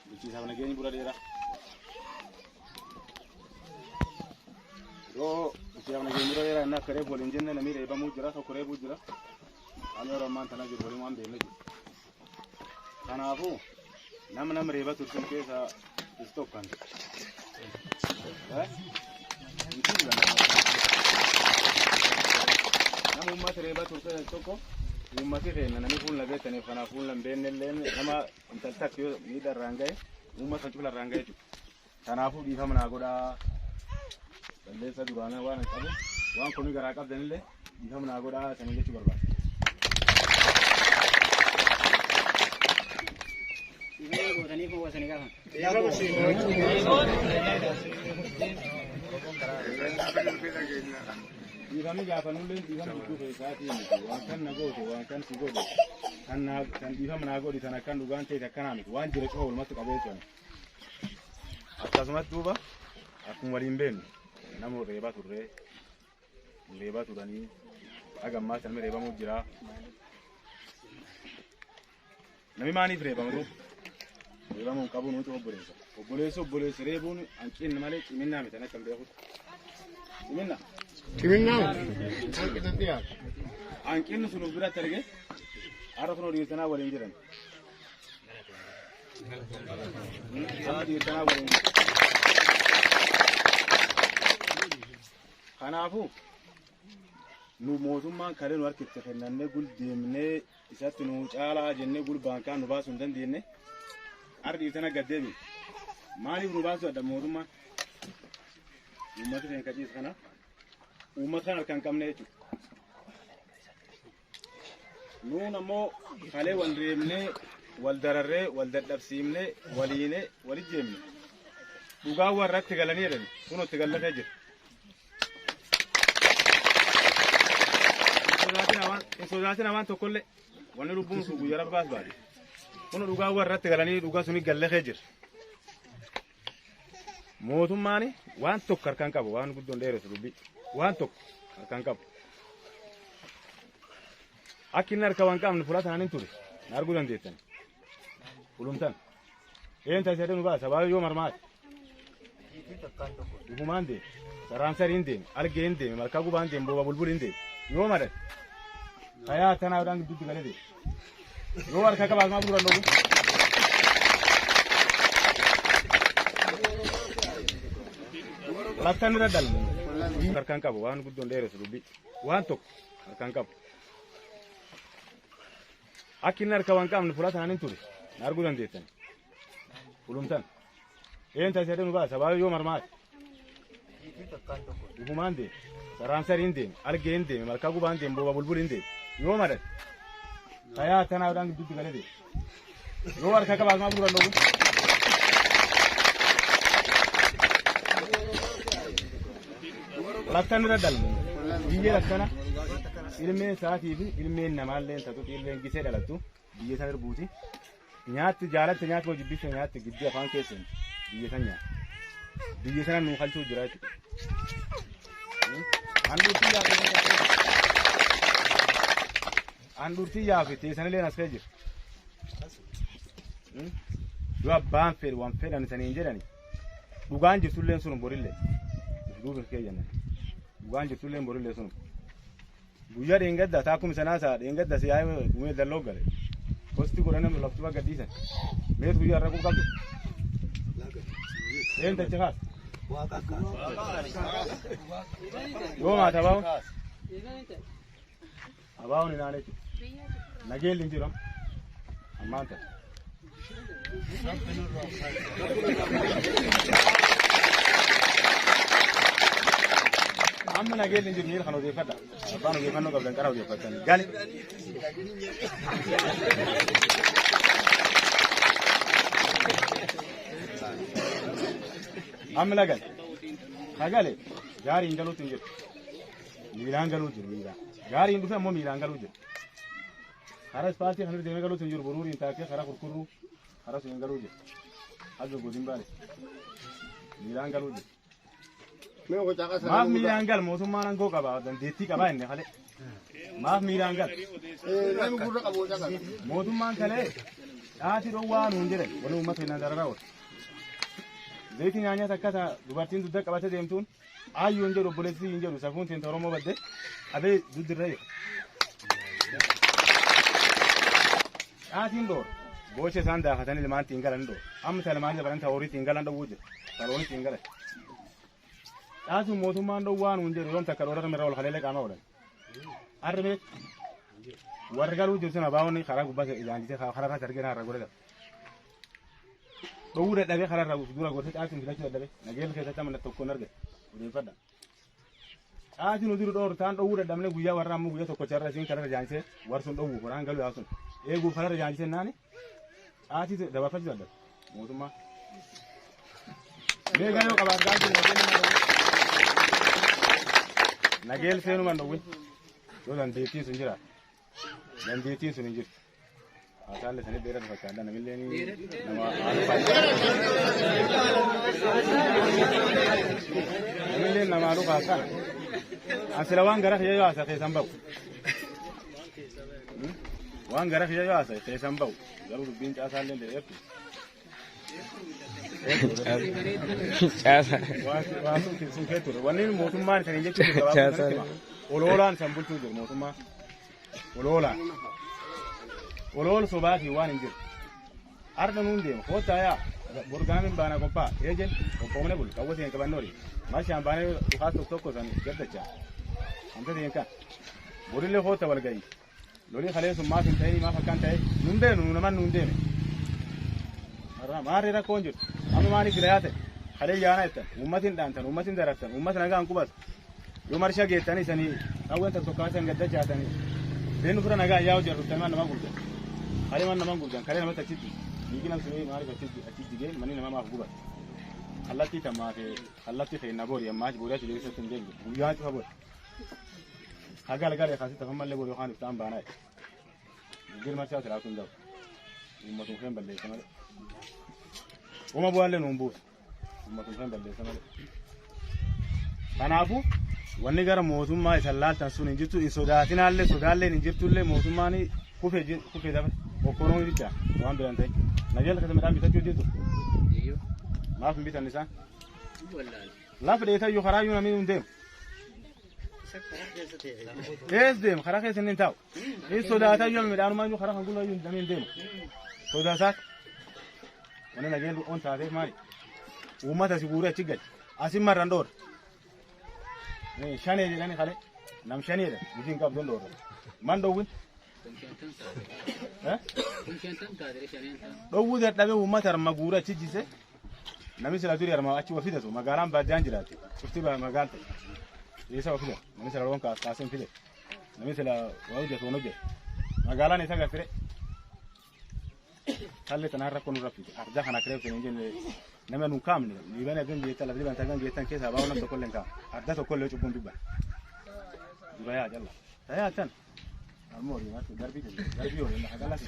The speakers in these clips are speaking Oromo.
bulchiinsaaf nageenyi bura dheeraa. Yoo bulchiinsaaf nageenyi bura dheeraa inni akka reefu waliin jenne namni reebamuu jira tokko reebuu jira. Ani yeroo ammaan tana jiru waliin waan beekne jiru. Kanaafuu nam nam reeba turtan keessa is tokkan. Nam uummata reeba turtan tokko uummati keenya namni fuula beektaniif kanaaf fuula hin beekne illee nama Intalli takka yoo miidhaa irraan gahe uummata cufa irraan gahe jechuudha. Kanaafuu dhiifama naa godhaa. Balleessaa duraanaa waan qabu waan komii garaa qabdanillee dhiifama naa godhaa isaanii jechuu barbaada. Dhiifama Dhiifamni gaafanullee dhiifama gidduu keessaatii miti. Waan kan na goote, waan kan si godhe, kan naa kan dhiifama naa godhi sana kan dhugaan ta'e akkanaa miti. Waan jira cufa walumatti qabee jiran. Akkasumas duuba akkuma waliin beeknu nama reebaa turree reebaa turanii haga ammaa sanni reebamuu jira. Namni maaliif reebama garuu? Reebama hin qabu nuti obboleessa. Obboleessa obboleessa reebuun hanqinni malee ciminaa miti akka hin beekutti. Ciminaa. Ciminaa hanqina dhiyaatu. Hanqinni sun of biratti argee har'a kun hojii sanaa waliin jiran. Amma hojii sanaa waliin jiran. Kanaafuu nu mootummaan kalee nu harkitti kennannee guldeemnee isatti nu caalaa jennee gurbaan kaan nu baasuu hin dandeenye ardiif tana gad deebi maaliif nu baasuu adda mootummaan uummata keenya kaciisa kana uummata kana harkaan qabne jechuudha. Nuun ammoo kalee wal reebnee wal dararree wal dadhabsiifnee waliinee wal ijjeemne dhugaa warratti galanii jedhan kun itti gallatee jira. sodaatina waan tokkollee wanni lubbuun sun guyyaa rabbaas baate kun dhugaa warratti galanii dhugaa suni gallee jira mootummaan waan tokko harkaan qabu waan guddoon dheeressu dubbii waan tokko harkaan qabu akki inni harka waan qabne fudhataan hin ture na arguu dandeettan fulumtan Een taasisa jedhu nu baasa baay'ee yoo marmaate. Dhugumaan deeme. Saraan sariin deeme. Algee hin deeme. Malkaa gubaan deeme. Booba bulbuli hin deeme. Yoo madate. Fayaa tanaa dhaan gidduutti galee deeme. Yoo harka qabaas maa bu'uura looguu. Lakkan irra dalmu. Harkaan qabu waan guddoon dheeressu dubbii. Waan tokko harkaan qabu. Akka inni harka waan qabne fulaa tanaan hin ture. Na arguu dandeettan. Fulumtan. Een taasisa jedhee nu baasa. Sabaabii yoo marmaate. Gufumaan deeme. Saraan sarii hin deeme. Algee hin deeme. Malkaa gubaa hin deeme. Booba bulbul hin deeme. Yoo madate. Fayaa tanaa dhaan gidduutti galee deeme. Yoo harka qabaas maa fuudhan dhoobu. Rakkan irra dhalmu. Biyyi rakkana ilmeen isaatii fi ilmeen namaallee tatu ilmeen gisee dhalattu biyya san irbuuti. Nyaatti jaalatte nyaatti hojii bifte nyaatti giddii afaan keessan biyya san nyaatti. Biyya sana nuu halchuu jira jechuudha. Handhuurtii yaa handhuurtii yaa fi teessanillee as kee jira. Yoo abbaan fedhe waan fedhan isaniin jedhani. Dhugaan jirtulleen sun borillee. Duuba hin keeyyanne. Dhugaan jirtulleen borillee sun. Guyyaa dheengadda taa akkuma sanaa isaa dheengadda si yaa'ee dhumee dalloo gale. Kosti godhanii nu laftuba gadhiisan. Meet guyyaa irra quqqabdu. Een tachi kaas. Yoo maata bahu. Abaawoon hin aaneetu. Nageelli hin jiru. Ammaan ta'e. Amma nageelli hin jiru miira kan odeeffadha. Abbaan odeeffannoo qabdan qara odeeffatan. Gali. Amma lagal. Hagale. Gaariin galuutti hin jiru. miilaan galuu jiru miilaan. Gaariin dhufe ammoo miilaan galuu jiru. Karaa ispaaltii kan irra deemee galuu sun jiru buruuriin taakkee karaa kurkurruu karaa sun galuu jiru. Haga godin baale. Miilaan galuu jiru. Maaf miilaan gal mootummaan aangoo qaba dandeettii qaba inni kalee. Maaf miilaan gal. Mootummaan kalee dhaati dhowwaa nuun jedhan wani uummata hin dararaa oolu. Zayitii nyaanyaa takka dubartiin dugda qabatee deemtuun Ayyuu hin jedhu obboleessi hin jedhu safuun teenta Oromoo badde abee duddirra jira. Caatiin dhoor boocha isaan daafatanii ilmaan ittiin galan dhoor amma isa ilmaan dabalan isa horii ittiin galan dhowwuu jira isa horii ittiin galan. Caasuun mootummaan dhowwaa nuun jedhu yoom takka dhoorata mirra ol haleelee qaamaa oolan. Arri beek warri galuu jiru sun abaa'oonni karaa gubbaa ijaan jisee karaa kaas argee naarra godhata. dhowwuu dadhabee karaa irraa buusu dura gorsa caatiin filachuu dadhabee nageelli keessatti amma tokkoon arge odeeffadha. Caatiin nu duru dhoortaan dhowwuu dadhabne guyyaa warra ammoo guyyaa tokkocha irra isiin karaa jaansee warsuun dhowwuu koraan galuu yaasun eeguuf karaa jaansee naani caatii dabarfachuu dadhabe mootummaa. Meeqa yoo qabaate caatii nageel seenumaan dhowwin yoo dandeettiin sun jiraate dandeettiin sun hin jirtu. Haasaan isaanii dheeraa fakkaata namillee nama namillee nama haaluu kaasaan asila waan gara kiyya yoo haasa keessan ba'u waan gara kiyya yoo haasa keessan ba'u garuu dubbiin caasaa illee dheertu Caasa. waan sun keessu wanni mootummaan isaanii jechuun gabaabaa oloolaan san bulchuu jiru mootummaa. Oloolaa. Olool sobaatii waan hin jiru. Arda nuun deema. Koottaa yaa. Borgaamiin baanaa qophaa'a. Eejen qophoomne bul. Qawwa seen qabannoo dhi. Marshaan baanee dhukaas tokko tokko san gaddacha. Amta seen kan. Borillee kootta wal ga'i. Lolii kalee sun maaf hin ta'inii maaf akkan ta'e. Nun beenu nu naman nuun deeme. Har'a maarree rakkoon jiru. Amma maaliif gilayaa ta'e? Kalee yaanaa jettan. Uummatiin dhaantan. Uummatiin darartan. Uummat nagaan qubas. Yoo marsha geettanii sanii qawween tokko tokko san gadda jaatanii beenu fira nagaa yaa hojii arruttan maan namaa gubdan kalee maan namaan gubdan kalee namatti achitti dhiigina sunii maaliif achitti achitti gee manni namaa maaf guban kallattii tamaa fi kallattii keenya boori ammaa boori achi deebisee sun deebisu guyyaa cufa boori hagal galee kaasitti afan mallee boori yookaan iftaan baanaa jijjiir marsaa siraa kun da'u uummatun keen balleessa malee uuma bu'aallee nuun buusu. Kanaafuu wanni gara mootummaa isan laaltan sun hin jirtu hin sodaatinaallee sodaalleen hin jirtullee mootummaan kufe je- kufe dabre okkoroon bicha waan biran ta'e na jala kasa midhaan bitachuu jirtu Iyyuu. maaf hin bitan isaan Wallaal. lafa dheetayyuu karaa iyyuu namni hin deemu Isa karaa keessa ta'e. ees deema karaa keessa inni hin taa'u Hin sodaata yoo midhaanumaa iyyuu karaa kan gulaa iyyuu dameen deema. Sodaa isaati. Wanni nageen on taateef maali? Uummata si guuree achi gadi. Asin marran dhoorra. Shanee jedhani kalee. Nam shanee jedhan. Hojii hin qabdu hin dhoorra. Man dhoowwin. Dhoowwuu dadhabee uummata harma guuree achi jise. Namni sila durii harma achi wafi tasu magaalaan baadiyaan jiraate. Cufti magaalta. Eessa wafi tasu? Namni sila loon kaasee hin fide. Namni sila waa hojjetu waan hojjetu. Magaalaan isa gattire. Haalli tanaan rakkoo nurra fide. Ardaa kana kireef hin jenne nama nun kaamne. Liiban agan geettan lafa liiban agan geettan keessaa baa'u nam tokkollee hin kaamne. Ardaa tokkollee cubbuun dubban. Dura yaa jalla. Tayaa tan. Ammoo horiin akka darbii jenne. Darbii horiin lafa galas.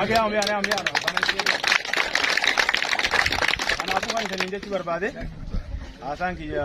Abee amee amee amee amee. Kanaafuu waan isin hin jechuu barbaade haasaan kiyya